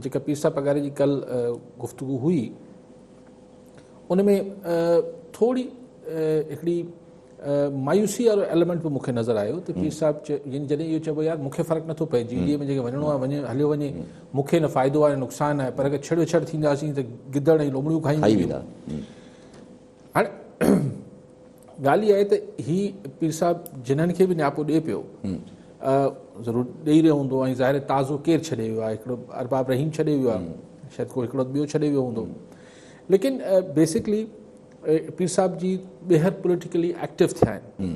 جيڪا پير صاحب پگاري جي ڪل گفتگو هئي ان ۾ ٿوري هڪڙي مايوسي وارو ايليمنٽ به مون کي نظر آيو ته پير صاحب يعني جڏهن اهو چئبو يار مون کي فرق نٿو پئي جي ڊي اي ۾ جيڪي وڃڻو آهي وڃي هليو وڃي مون کي نه فائدو آهي نه نقصان آهي پر اگر ڇڙ ڇڙ ٿينداسين ته گدڙ ۽ لومڙيون کائينديون هاڻي ڳالهه اها آهي ته هي پير صاحب جنن کي به نياپو ڏئي پيو ضرور ڏئي رهيو هوندو ۽ ظاهر تازو ڪير ڇڏي ويو آهي هڪڙو ارباب رحيم ڇڏي ويو آهي شايد ڪو هڪڙو ٻيو ڇڏي ويو هوندو ليڪن بيسڪلي پير صاحب جي ٻيهر پوليٽيڪلي ايڪٽو ٿيا آهن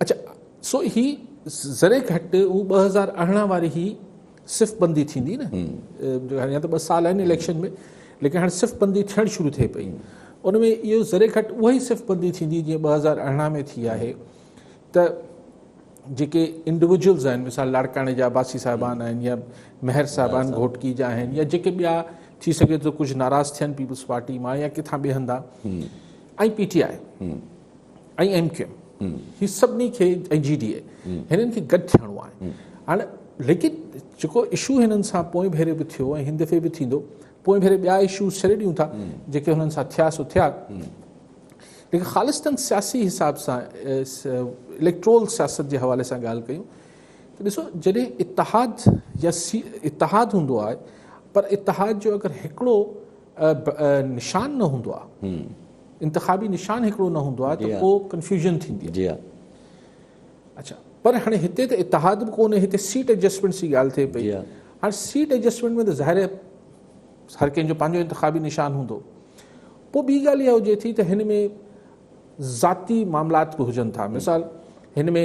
اچا سو هي ذري گهٽ هو ٻه هزار ارڙهن واري هي صف بندي ٿيندي نه هاڻي ته ٻه سال آهن اليڪشن ۾ ليڪن هاڻي صف بندي ٿيڻ شروع ٿئي پئي ان ۾ اهو ذري گهٽ اها ئي صف بندي ٿيندي جيئن ٻه هزار ارڙهن ۾ ٿي آهي ته جيڪي انڊيويجلز آهن مثال لاڙڪاڻي جا عباسي صاحبان آهن يا مهر صاحبان گهوٽڪي جا آهن يا جيڪي ٻيا ٿي سگهي ٿو ڪجهه ناراض ٿين پيپلز پارٽي مان يا ڪٿان ٻي هندا ۽ P T I ۽ M Q M هي سڀني کي ۽ جي ڊي اي هنن کي گڏ ٿيڻو آهي هاڻي ليڪن جيڪو اشو هنن سان پوئين ڀيري به ٿيو ۽ هن دفعي به ٿيندو پوئين ڀيري ٻيا اشوز ڇڏي ڏيون ٿا جيڪي هنن سان ٿيا سو ٿيا ليڪن خالصتن سياسي حساب سان اليڪٽرول سياست جي حوالي سان ڳالهه ڪيون ته ڏسو جڏهن اتحاد يا سي اتحاد هوندو آهي پر اتحاد جو اگر هڪڙو نشان نه هوندو آهي انتخابي نشان هڪڙو نه هوندو آهي ته پوء ڪنفيوزن ٿيندي آهي. اڇا پر هاڻي هتي ته اتحاد به ڪونهي هتي سيٽ ايڊجسٽمينٽ جي ڳالهه ٿئي پئي هاڻي سيٽ ايڊجسٽمينٽ ۾ ته ظاهر هر ڪنهن جو پنهنجو انتخابي نشان هوندو پوء ٻي ڳالهه اها هجي ٿي ته هن ۾ ذاتي معاملات به هجن ٿا مثال هن ۾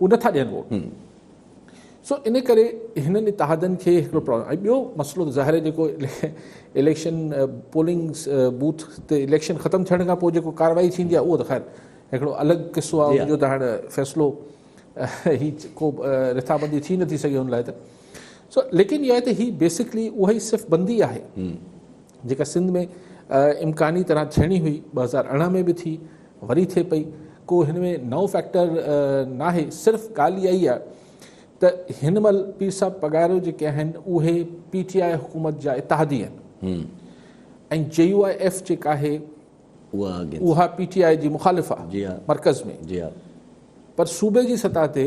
اهي نٿا ڏين ووٽ سو ان ڪري هنن اتحادن کي هڪڙو پرابلم ۽ ٻيو مسئلو ته ظاهر آهي جيڪو اليڪشن پولنگ بوٿ تي اليڪشن ختم ٿيڻ کان پوء جيڪو ڪارروائي ٿيندي آهي اهو ته خير هڪڙو الڳ قصو آهي جو ته هاڻ فيصلو هي ڪو رٿابندي ٿي نٿي سگهي ان لاء ته سو ليڪن اها ته هي بيسڪلي اها ئي صرف بندي آهي جيڪا سنڌ ۾ امڪاني طرح ٿيڻي هئي ٻه هزار ارڙهن ۾ به ٿي وري ٿئي پئي ڪو هن ۾ نئون فيڪٽر ناهي صرف ڳالهه اها ئي آهي ته هن مهل پير صاحب پگهاريو جيڪي آهن اهي پي ٽي آء حڪومت جا اتحادي آهن ۽ جي يو آء ايف جيڪا آهي اها پي ٽي آء جي مخالف آهي مرڪز ۾ پر صوبي جي سطح تي